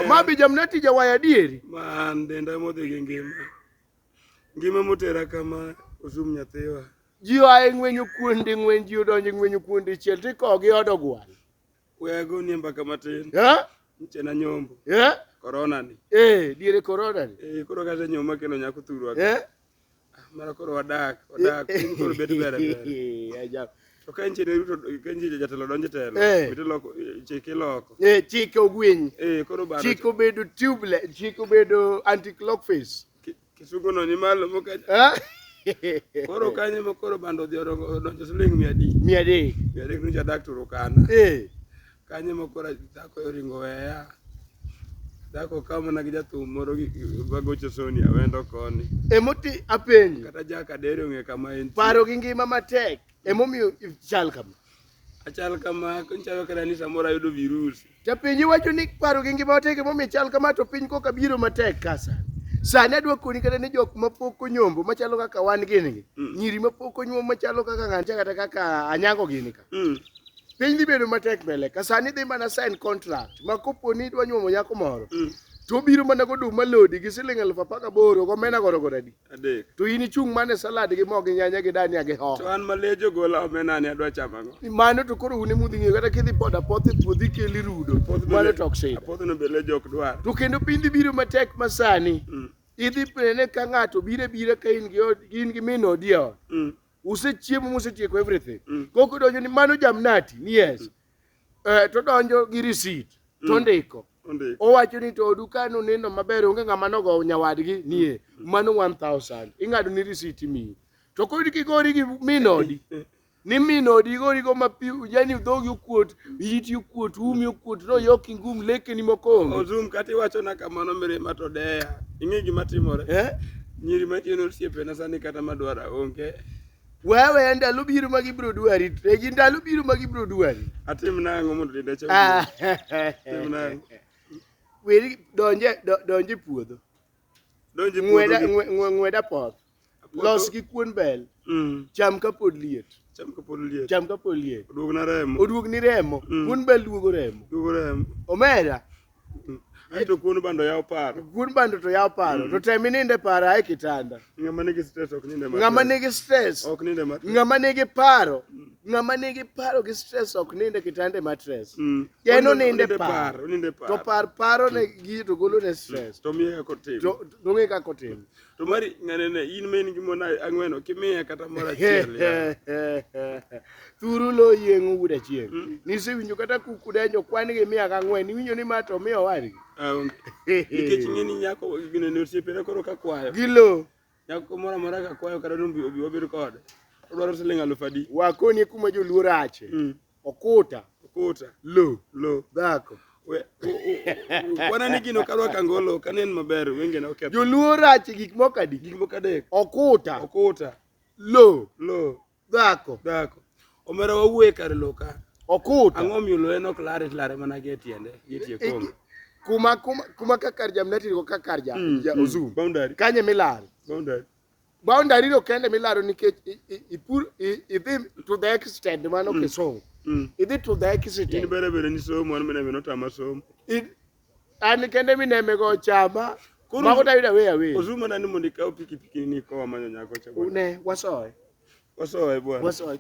Ma bi jamnati jawaya adieri. Ma an denda modhi gi ngima. Ngima motera kama osum nyathiwa. Ji oa e ng'wenyo kuonde ng'wen ji odonjo e ng'wenyo kuonde chiel to ikawo gi odo gwal. We agonie mbaka matin. Eh? Mchena nyombo. Eh? Corona ni. Eh, diere corona ni. Eh, koro kata nyoma kelo nyako thurwa. Eh? Mara koro wadak, wadak, piny koro bet ber ber. To ka injini ruto ka injini jatelo donje telo, eh. bito loko chike loko. Eh, chike ogwiny. Eh, koro baro. Chike obedo tubeless, chike obedo anti clock face. Kisugo no ni malo moka. Ah. Koro kanye mo koro bando odhi odonjo siling 100. 100. 100 ni jadak turukana. Eh. Kanyo ma koro dhako oringo weya. Dhako ka mana gi jathum moro gi- gi- magocho soni awendo koni. Emoti apenji. Kata ja kadere ong'e kama en. Paro gi ngima matek emomiyo ichal kama. Achal kama konchawe kata ni samoro ayudo virusi. Tapenji wacho ni paro gi ngima matek emomiyo ichal kama to piny koka biro matek kasa. Sani adwa koni kata ni jok mapok onyombo machalo kaka wan gini gi. Mm. Nyiri mapok onyuom machalo kaka ng'ancha kata kaka anyango gini ka. Mm. Piny dhi bedo matek mbele. Ka sani dhi mana sign contract ma kopo ni idwa nyuomo nyako moro. Mm. To biro mana go duma lodi gi siling elfu apar gaboro go mena goro goro adi. Adek. To in ichung' mana e salad gi mo gi nyanya gi dania gi hoho. To an malejo gola omena ni adwa chamo ang'o? Mano to koro un ema udhi ng'eyo kata kidhi poda poth e puodho ikeli rudo. Apoth Mano bende- to ok sida. Apoth no be lejo ok dwar. To kendo piny dhi biro matek ma sani. Mm. Idhi pene ka ng'ato biro biro ka in gi od- in gi min odi e ot. Mm. usechiemo musetieko everything mm. koko donjo ni mano jamnati ni yes mm. eh, to donjo gi receipt mm. to ndiko owacho ni to odu kano neno maber onge ng'ama nogo nyawadgi nie mm. mano 1000 ing'ado ni receipt miyi to kodi kigori gi minodi ni minodi igori go mapiu yani dhogi okuot Iti okuot, umi okuot, noyok ingum lekeni moko onge. Ozum kata iwachona kamano mirima to deya. Ing'e gima timore? Eh? Nyiri machien osiepena sani kata madwara onge. Wewe ndalo biro ma gibiro dwari, e gi ndalo biro ma gibiro dwari. Atim nang'o mondo denda chal? Ah. Tim nang'o? Weri donje do- donje puodho. Donji Ng'weda puodho. ng'we- ng'we- ng'weda poth. Los gi kuon bel. Mm. Cham kapod liet. Cham kapod liet. Cham kapod liet. Oduog na remo. Oduog ni remo. Mm. Kuon bel duogo remo. Duogo remo. Omera. Mm. Aito kuon bando yaw paro. Kuon bando to yaw paro. Mm. To tem ininde para e kitanda. Ng'ama nigi stress ok ninde matek. Ng'ama nigi stress. Ok ninde matek. Ng'ama nigi paro. Mm. Ng'ama nigi paro gi stress ok ninde kitanda ma stress. Mm. Yen oninde paro. Oninde paro. To par paro ne mm. gi to golo ne stress. To miye kako tim. To ng'e kako tim. To mari ng'anene in ma in gi mon ang'wen ok imiya kata moro achiel. Thuru lo yieng'o wuod achieng'. Hmm? Nisewinjo kata kuku denjo kwan gi miya ka ang'wen. Niwinjo ni ma to miyo wadgi. Ah, Nikech ng'e ni nyako gine ne osiepena koro ka kwayo. Gilo. Nyako moro amora ka kwayo kata ni obi obi wabed kode. Odwaro siling' aluf adi. Wakonie kuma joluo rache. Hmm. Okuta. Okuta. Lo. Lo. Dhako. Wana ni gino kadwa kangolo ok anen maber wenge na oketho. Joluo rach gik moko adi? Gik moko adek. Okuta. Okuta. Lo. Lo. Dhako. Dhako. Omera wawuoye kar lo ka. Okuta. Ang'o miyo lo en ok lare lare mana gi e tiende gi e tie kongo. Kuma kuma kuma ka kar jamnati ko ka kar ja, mm, ja mm. ozum. Boundary. Kanye milare. Boundary. Boundary no kende milaro nikech ipur idhi to the extent mano mm. kisomo. Mm. Idhi to the extent. In bere bere ni somo an mene no tama somo. An kende mineme go chama. Mago ta yuda weya weya. Ozuma nani mondo ikaw pikipiki ni ko manyo nyako cha. Ne wasoe. Wasoe bwana. Wasoe.